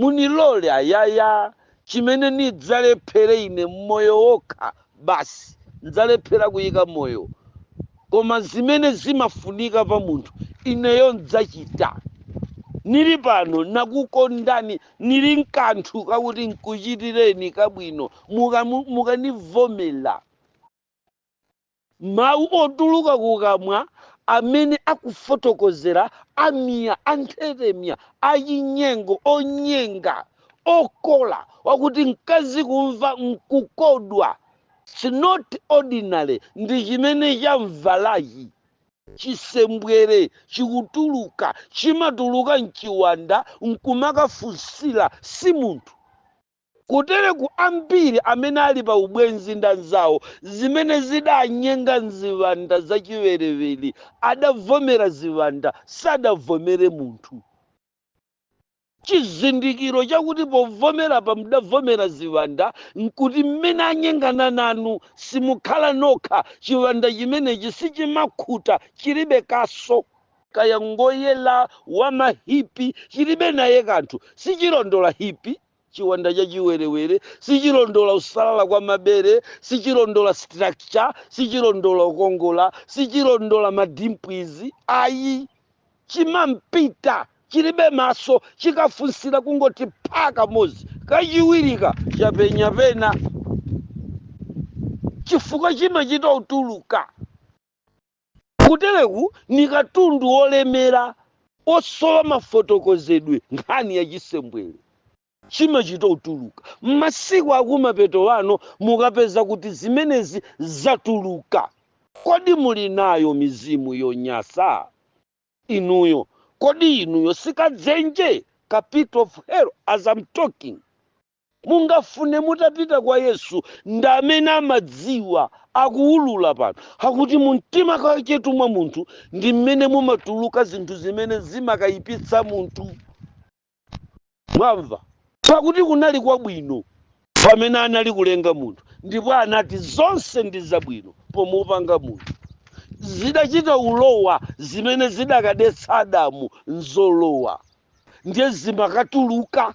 Munilola ayaya, chimene nidzalephere ine m'moyo wokha basi, n'dzalephera kuyika moyo, koma zimene zimafunika pa munthu ineyo n'dzachita. Nili pano nakukondani, nili n'kanthu kakuti n'kuchitireni kabwino, mukanivomera. Mawu otuluka kukamwa amene akufotokozera amiya, anthetemya, achinyengo, onyenga, okola, akuti mkazi kumva n'kukodwa It's not ordinary ndi chimene cham'valachi. Chisembwere chikutuluka, chimatuluka m'chiwanda n'kumakafunsira si munthu. Kutereku ambiri amene ali pa ubwenzi ndi anzawo zimene zidanyenga m'ziwanda za chiwerewere adavomera ziwanda, sadavomere munthu. Chizindikiro chakuti povomerapa mudavomera ziwanda n'kuti mmene anyengana nanu simukhala nokha, chiwanda chimenechi sichimakhuta, chilibe kaso. Kaya ngoyera, wamahipi, chilibe naye kanthu, sichilondola hipi. chiwanda cha chiwerewere sichilondola kusalala kwa mabere sichilondola structure sichilondola ukongola sichilondola madimpwizi ayi chimampita chilibe maso chikafunsira kungoti pha kamodzi kachiwiri ka chapenya pena chifukwa chimachita utuluka Kutereku ni katundu wolemera osowa mafotokozedwe nkhani ya chisembwere chimachita utuluka masiku akumapeto ano mukapeza kuti zimenezi zatuluka kodi muli nayo mizimu yonyasa inuyo kodi inuyo sikadzenje ka pit of hell as am talking Mungafune mutapita kwa Yesu ndi amene amadziwa akuulula pano. Akuti mu mtima kachetu mwa munthu ndi mmene mumatuluka zinthu zimene zimakayipitsa munthu. Mwamva? Pakuti kunali kwabwino pamene anali kulenga munthu, ndipo anati, Zonse ndi zabwino pomupanga munthu. Zidachita ulowa zimene zidakadetsa Adamu nzolowa ndiye zimakatuluka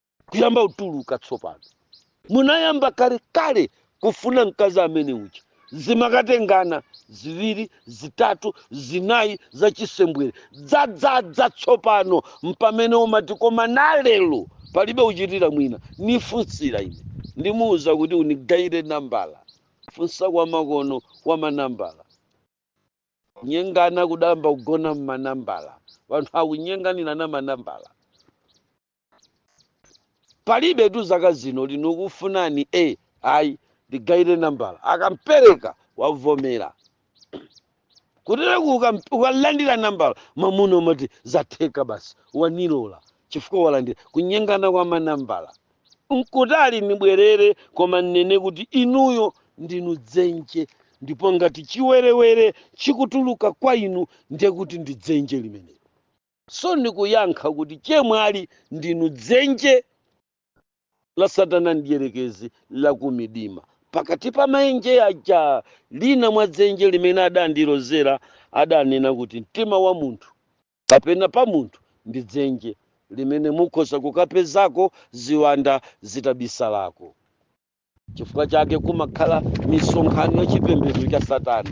kuyamba kutuluka tsopano munayamba kale kale kufuna mkazi amene uja zimakatengana ziwiri zitatu zinayi zachisembwere dzadzadza tsopano mpamene umati koma nalelo palibe kuchitira mwina nifunsira ine ndimuwuza kuti unigayire nambala funsa kwa makono kwa manambala kunyengana kudayamba kugona mmanambala wanthu akunyenganirana manambala palibetu zaka zino niukufunani a ayi ndigaire nambala akampereka wavomera kutereku ukam- ukalandira nambala mamuna umati zatheka basi wanilola chifukwa walandira kunyengana kwa manambala nkutali nibwerere koma ninene kuti inuyo ndinu dzenje ndipo ngati chiwerewere chikutuluka kwa inu ndiye kuti ndi dzenje limenelo so nikuyankha kuti chemwali ndinu dzenje la satana mdyerekezi lakumidima pakati pa maenje aja lina mwa dzenje limene adandilozera adanena kuti mtima wa munthu kapena pa munthu ndi dzenje limene mukhoza kukapezako ziwanda zitabisalako chifukwa chake kumakhala misonkhano ya chipembedzo cha satana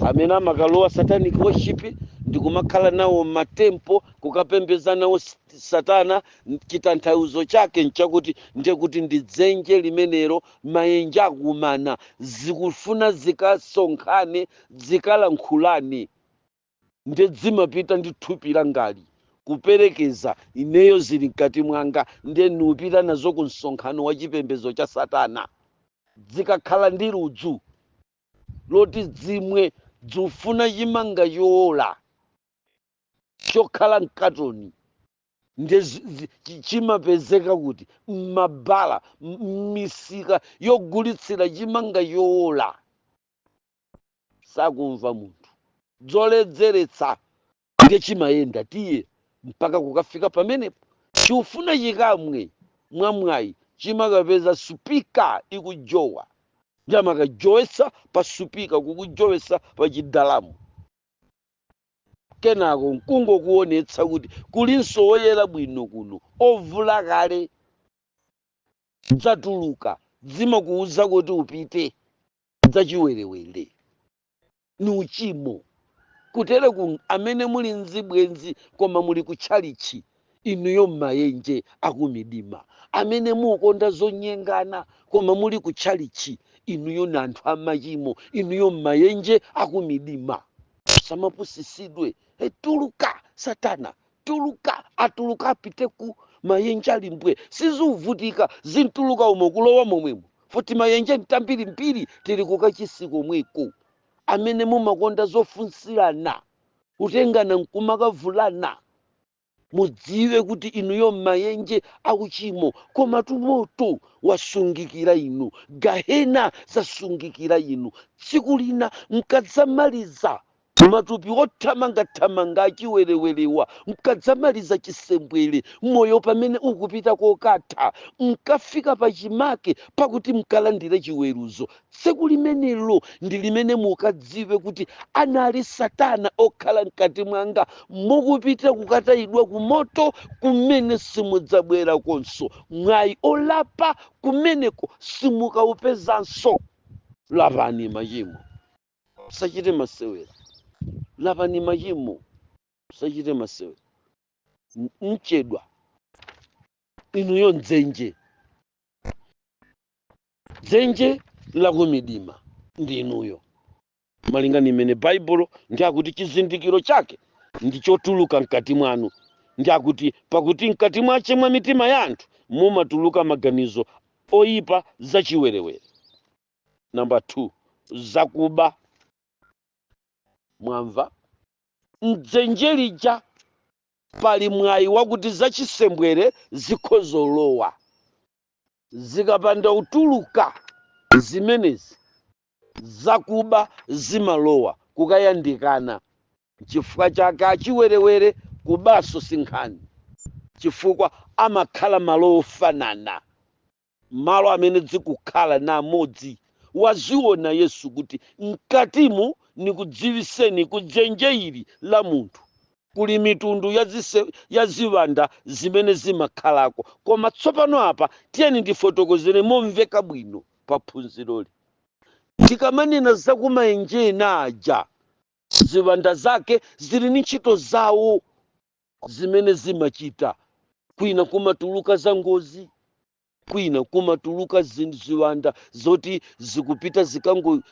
amene amakalowa satanic worship ndi kumakhala nawo matempo kukapembeza nawo s- satana chitanthauzo chake nchakuti ndiye kuti ndi dzenje limenelo mayenje akumana zikufuna zikasonkhane zikalankhulane nde dzimapita ndi thupi langali kuperekeza ineyo zili mkati mwanga nde niupita nazo ku msonkhano wa chipembedzo cha satana dzikakhala ndi ludzu loti dzimwe dziufuna chimanga choola chokhala mkatoni nde zi- zi- chi- chimapezeka kuti mmabala m- mmisika yogulitsira chimanga choola sakumva munthu dzoledzeretsa ndiye chimayenda tiye mpaka kukafika pamenepo chiufuna chikamwe mwamwayi chimakapeza supika ikujowa nde amakajowesa pa supika kukujowesa pa chidalamu kenako nkungokuonetsa kuti kulinso woyera bwino kuno ovula kale dzatuluka dzimakuuza kuti upite zachiwerewere ni uchimo kutereku amene muli nzibwenzi koma muli kutchalichi inuyo mmayenje akumidima amene muukonda zonyengana koma muli kutchalichi inuyo ni anthu amachimo inuyo mmayenje akumidima samapusisidwe eh tuluka satana tuluka atuluka apite ku mayenje ali mbwee siziuvutika zimtuluka umo kulowa momwemo futi mayenje mbambirimbiri tili kukachisi komweko amene mumakonda zofunsirana kutengana nkumakavulana mudziwe kuti inuyo m'mayenje akuchimo komatu moto wasungikira inu gahena zasungikira inu tsiku lina mkadzamaliza Matupi othamangathamanga achiwerewerewa mkadzamaliza chisembwere, moyo pamene ukupita kokatha, mkafika pachimake pakuti mkalandire chiweruzo. Tsiku limenelo ndi limene mukadziwe kuti anali Satana okhala mkati mwanga, mukupita kukatayidwa kumoto kumene simudzabwerakonso. Mwayi olapa kumeneko simukaupezanso. Lapani machimo musachite masewera lapani machimo musachite masewera M- mchedwa inuyo mdzenje dzenje lakumidima ndi inuyo malinga ni mmene baibulo ndi akuti chizindikiro chake ndi chotuluka mkati mwanu ndi akuti pakuti mkati mwache mwa mitima ya anthu mumatuluka maganizo oyipa zachiwerewere namba 2 zakuba mwamva mdzenje lija pali mwayi wakuti zachisembwere zikhozolowa zikapanda utuluka zimenezi zakuba zimalowa kukayandikana chifukwa chake achiwerewere kubaso sinkhani chifukwa amakhala malo ofanana malo amene zikukhala na amodzi waziona Yesu kuti mkatimu nikudziwiseni ku dzenje ili la munthu kuli mitundu ya, zise, ya ziwanda zimene zimakhalako koma tsopano apa tiyeni ndifotokozere momveka bwino pa phunziroli tikamanena za kumaenje ena aja ziwanda zake zili ni ntchito zawo zimene zimachita. Kwina kumatuluka zangozi, kwina kumatuluka ziwanda zoti zikupita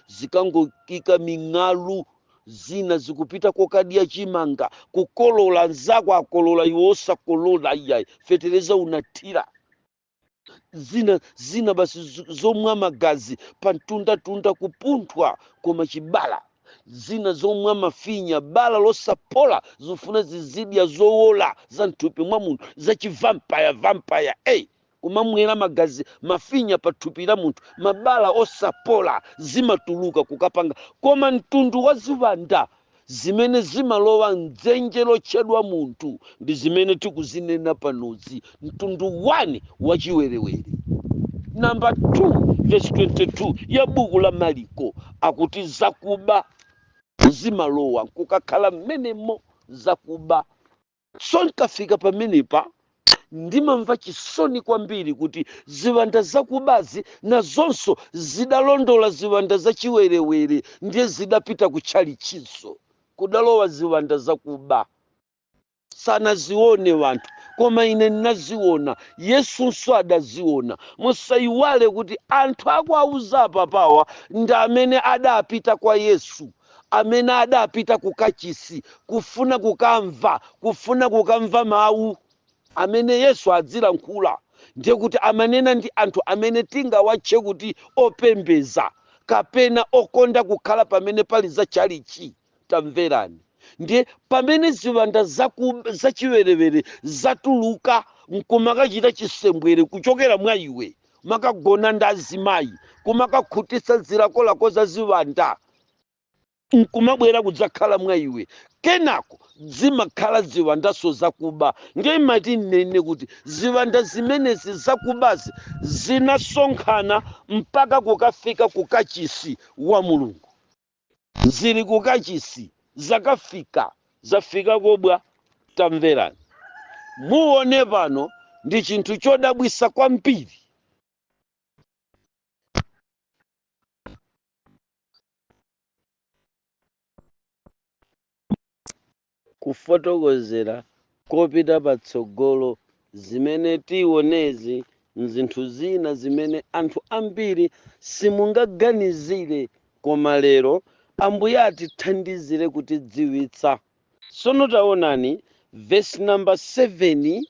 zikangoika ming'alu, zina zikupita kokadya chimanga, kukolola, nzako akolola iwe osakolola iyayi, fetereza unathira. zina zina basi zo- zomwa magazi pantundatunda kupunthwa koma chibala zina zomwa mafinya bala losapola zifuna zizidya zowola za mthupi mwa munthu za chivampaya vampaya eyi kumamwera magazi mafinya pa thupi la munthu mabala osapola zimatuluka kukapanga koma mtundu wa ziwanda zimene zimalowa m'dzenje lotchedwa munthu ndi zimene tikuzinena panozi, mtundu 1 wa chiwerewere. Namba 2 vesi 22 ya buku la Maliko akuti zakuba zimalowa nkukakhala mmenemo zakuba. So nkafika pamenepa ndimamva chisoni kwambiri kuti ziwanda zakubazi nazonso zidalondola ziwanda zachiwerewere ndiye zidapita ku tchalitchinso kudalowa ziwanda zakuba sanazione anthu koma ine ndinaziona yesunso adaziona musayiwale kuti anthu akuwauza apapawa ndi amene adapita kwa yesu amene adapita ku kachisi kufuna kukamva kufuna kukamva mawu amene Yesu adzilankhula ndiye kuti amanena ndi anthu amene tingawatche kuti opembeza kapena okonda kukhala pamene pali za chalichi tamverani ndiye pamene ziwanda zaku zachiwerewere zatuluka nkumakachita chisembwere kuchokera mwa iwe kumakagona ndi azimayi kumakakhutitsa zilakolako za ziwanda nkumabwera kudzakhala mwa iwe kenako zimakhala ziwandanso zakuba ndiye ndimati ndinene kuti ziwanda zimenezi zakubazi zinasonkhana mpaka kukafika ku kachisi wa mulungu zili ku kachisi zakafika zafika koba tamverani muone pano ndi chinthu chodabwisa kwambiri kufotokozera kopita patsogolo zimene tionezi nzinthu zina zimene anthu ambiri simungaganizire koma lero ambuye atithandizire kutidziwitsa Tsono taonani, vesi namba 7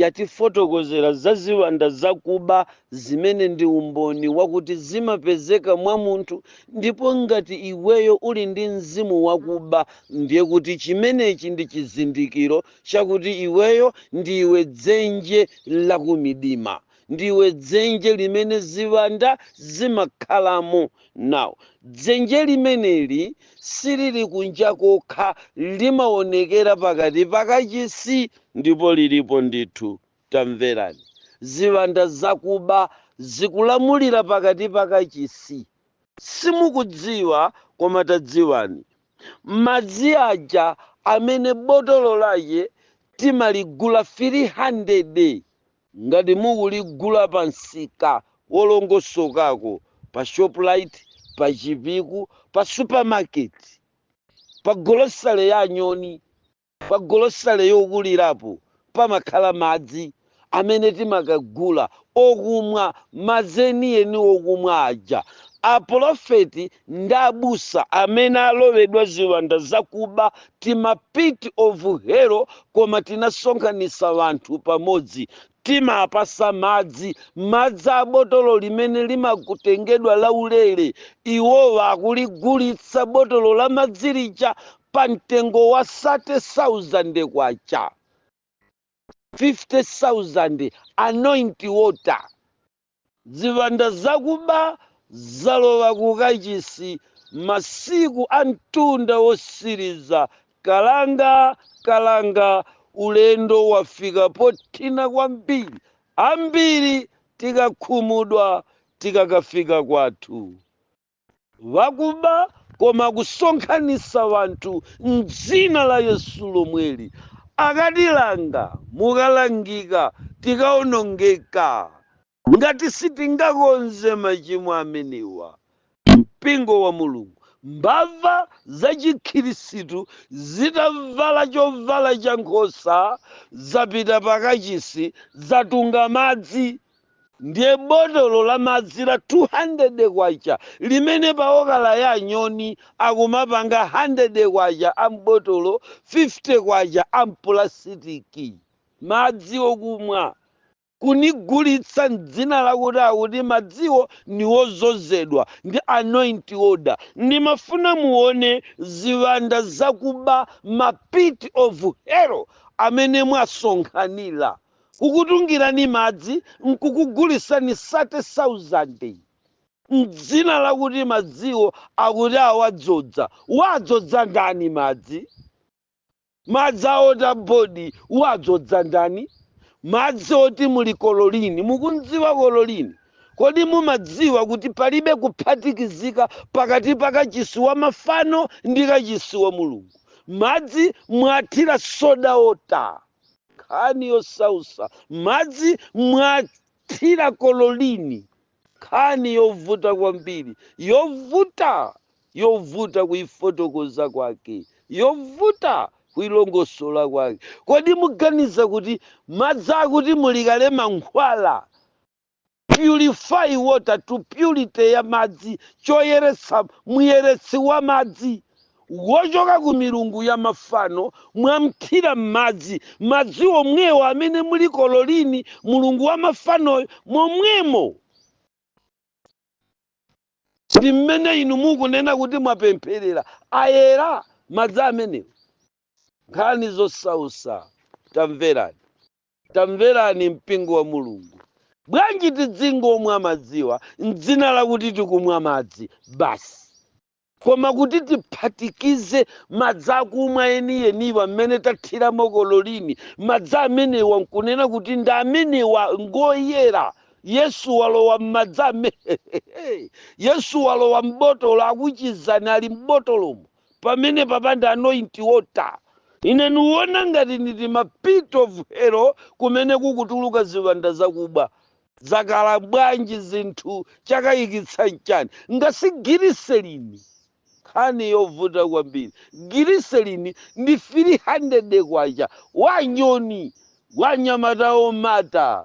yatifotokozera za ziwanda zakuba zimene ndi umboni wakuti zimapezeka mwa munthu ndipo ngati iweyo uli ndi mzimu wakuba ndiye kuti chimenechi ndi chizindikiro chakuti iweyo ndiwe dzenje lakumidima. Ndiwe dzenje limene ziwanda zimakhalamo. Now, dzenje limeneli silili kunja kokha, limaonekera pakati pa kachisi ndipo lilipo ndithu. Tamverani. Ziwanda zakuba zikulamulira pakati pa kachisi. Simukudziwa, koma tadziwani. Madzi aja amene botolo lache timaligula fili handede. Ngati mukuligula pa msika wolongosokako, pa Shoprite, pa Chipiku, pa supermarket, pa golosale ya Nyoni, pa golosale yokulirapo, pamakhala madzi amene timakagula okumwa, madzi enieni okumwa aja. Apolofeti ndi abusa amene alowedwa ziwanda zakuba, tima pit of hell, Koma tinasonkhanisa wanthu pamodzi, timapasa madzi, madzi a botolo limene limakutengedwa laulere, iwowa akuligulitsa botolo la madzi lija pa mtengo wa K30,000, K50,000, anoint water. Ziwanda zakuba zalowa ku kachisi Masiku a mtunda wotsiriza Kalanga kalanga ulendo wafika pothina kwambiri Ambiri tikakhumudwa tikakafika kwathu Wakuba koma kusonkhanisa wanthu mdzina la yesu lomweli akatilanga mukalangika tikaonongeka ngati sitingakonze machimo amenewa mpingo wa mulungu mbava za chikhilisitu zitavala chovala cha nkhosa zapita pakachisi zatunga madzi Ndiye botolo la madzi la K200 limene pa okala ya anyoni akumapanga K100 a m'botolo, K50 a m'pulasitiki. Madzi okumwa. Kuligulitsa m'dzina lakuti akuti madziwo ni ozozedwa ndi anoint water. Ndimafuna muone ziwanda zakuba ma pit of hell amene mwasonkhanira. kukutungirani madzi nkukugulisani sate sauzande m'dzina lakuti madziwo akuti awadzodza. Wadzodza ndani madzi? Madzi a wota bodi wadzodza ndani? Madzi oti muli kololini. Mukumdziwa kololini? Kodi mumadziwa kuti palibe kuphatikizika pakati pa kachisi wa mafano ndi kachisi wa Mulungu? Madzi mwathira soda wota. nkhani yosausa madzi mwathira kololini nkhani yovuta kwambiri yovuta yovuta kuifotokoza kwake yovuta kuilongosola kwake kodi muganiza kuti madzi akuti muli kale mankhwala purify water to purity ya madzi choyeretsa muyeretsi wa madzi wochoka ku milungu ya mafano mwamthira m'madzi madzi omwewo amene muli kololini mulungu wa mafanoyo momwemo ndi mmene inu mukunena kuti mwapempherera ayera madzi amenewo nkhani zosausa tamverani Tamverani mpingo wa Mulungu. Bwanji tidzingomwa madziwa m'dzina lakuti tikumwa madzi basi, koma kuti tiphatikize madzi akumwa eniyeniwa mmene tathiramo kololini, madzi amenewa nkunena kuti nde amenewa ngoyera. Yesu walowa m'madzi amene Yesu walowa m'botolo akuchizani ali m'botolomo. pamene papangidwa anointing water ine ndiwona ngati nditi ma pit of hell kumene kukutuluka ziwanda zakuba zakhala bwanji zinthu chakayikitsa nchani ngati si giliselini nkhani yovuta kwambiri giliselini ndi 300 kwacha wa nyoni wanyamata omata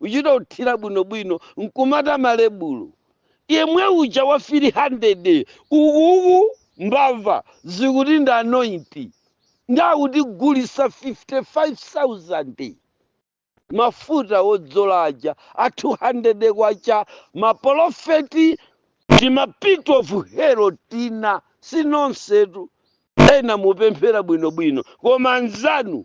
uchita kuthira bwino bwino nkumata malebulo yemwe uja wa 300 ukuku mbava zikuti ndi anointing ndakutigulitsa 55000 mafuta wodzola aja a 200 kwacha mapolofeti ndi mapit of hero tina sinonsetu ena mukupemphera bwinobwino koma nzanu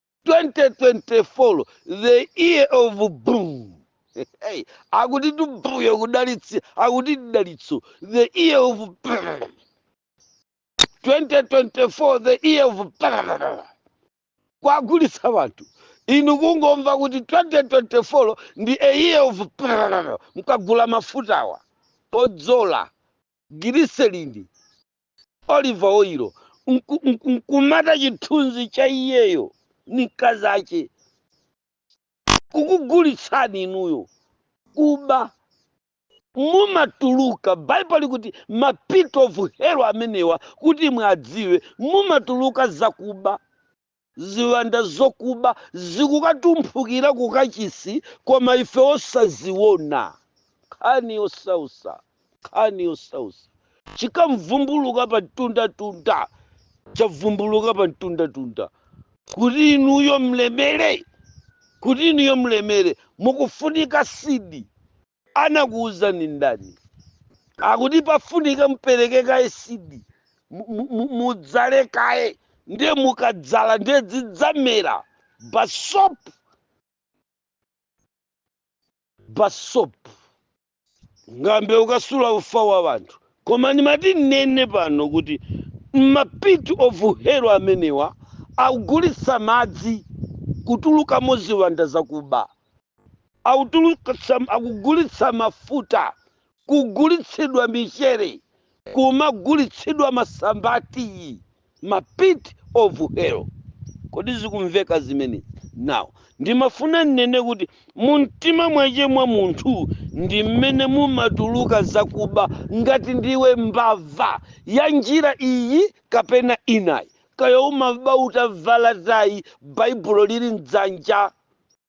2024 the year of boom hey, akuti tumbuyo kudalitsi akuti dalitso the year of boom. 2024 the year of boom. kuwagulitsa wanthu inu kungomva kuti 2024 ndi the year of boom. mkagula mafutawa odzola giriselini oliva oyilo nku- nku- nkumata chithunzi cha iyeyo ndi mkazi ache kukugulitsani inuyo kuba mumatuluka baibulo likuti mapit of hell amenewa kuti muwadziwe mumatuluka zakuba Ziwanda zokuba zikukatumphukira ku kachisi koma ife osaziona. Nkhani yosausa, nkhani yosausa. Chikamvumbuluka pa mtunda tunda, chavumbuluka pa mtunda tunda. Kuti inuyo mlemere, kuti inuyo mlemere, mukufunika seed. Anakuuzani ndani akuti pafunika mpereke kaye seed mu- mu- mu- mudzale kaye ndiye mukadzala ndiye zidzamera basop basop ngambe ukasula ufa wa wanthu koma ndimati nnene pano kuti mapit of hell amenewa akugulitsa madzi kutulukamo ziwanda zakuba akugulitsa mafuta kugulitsidwa michere kumagulitsidwa masamba atiyi ma pit of hell kodi zikumveka zimenezi now ndimafuna nnene kuti mumtima mwache mwa munthu ndi mmene mumatuluka zakuba ngati ndiwe mbava ya njira iyi kapena inayi kaya umaba utavala tayi baibulo lili mdzanja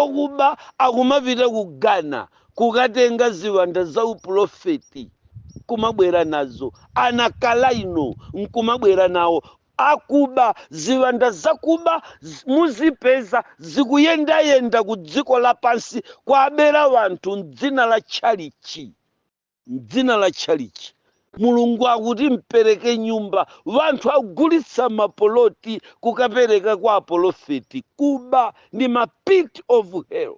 Okuba akumapita ku Ghana kukatenga ziwanda za upulofeti, nkumabwera nazo. Anakalaino, nkumabwera nawo. Akuba, ziwanda zakuba, z, muzipeza zikuyendayenda ku dziko lapansi, kuabera wanthu m'dzina la tchalitchi. mdzina la tchalitchi mulungu akuti mpereke nyumba wanthu agulitsa mapoloti kukapereka kwa apolofeti kuba ndi ma pit of hell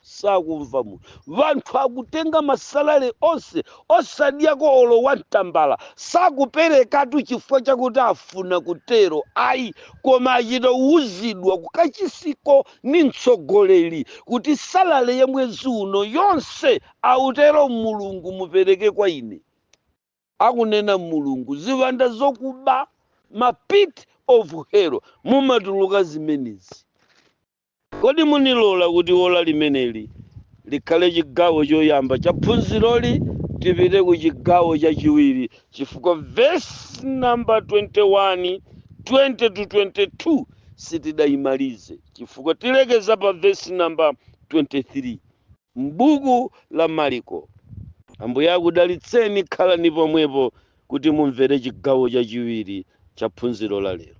sakumva munthu wanthu akutenga masalale onse osadyako olo wantambala sakuperekatu chifukwa chakuti afuna kutero ayi koma achita kuwuzidwa kukachisiko ni mtsogoleri kuti salale ya mwezi uno yonse Autero Mulungu, Mupereke kwa ine, akunena Mulungu, ziwanda zokuba, ma pit of hell mumatuluka zimenezi. Kodi munilola kuti ola limeneli likhale chigawo choyamba cha phunziroli tipite ku chigawo chachiwiri chifukwa vesi namba 21, 20 to 22 sitidaimalize chifukwa tilekeza pa vesi namba 23. m'buku la Maliko. Ambuye akudalitseni, khalani pomwepo kuti mumvere chigawo chachiwiri cha phunziro la lero.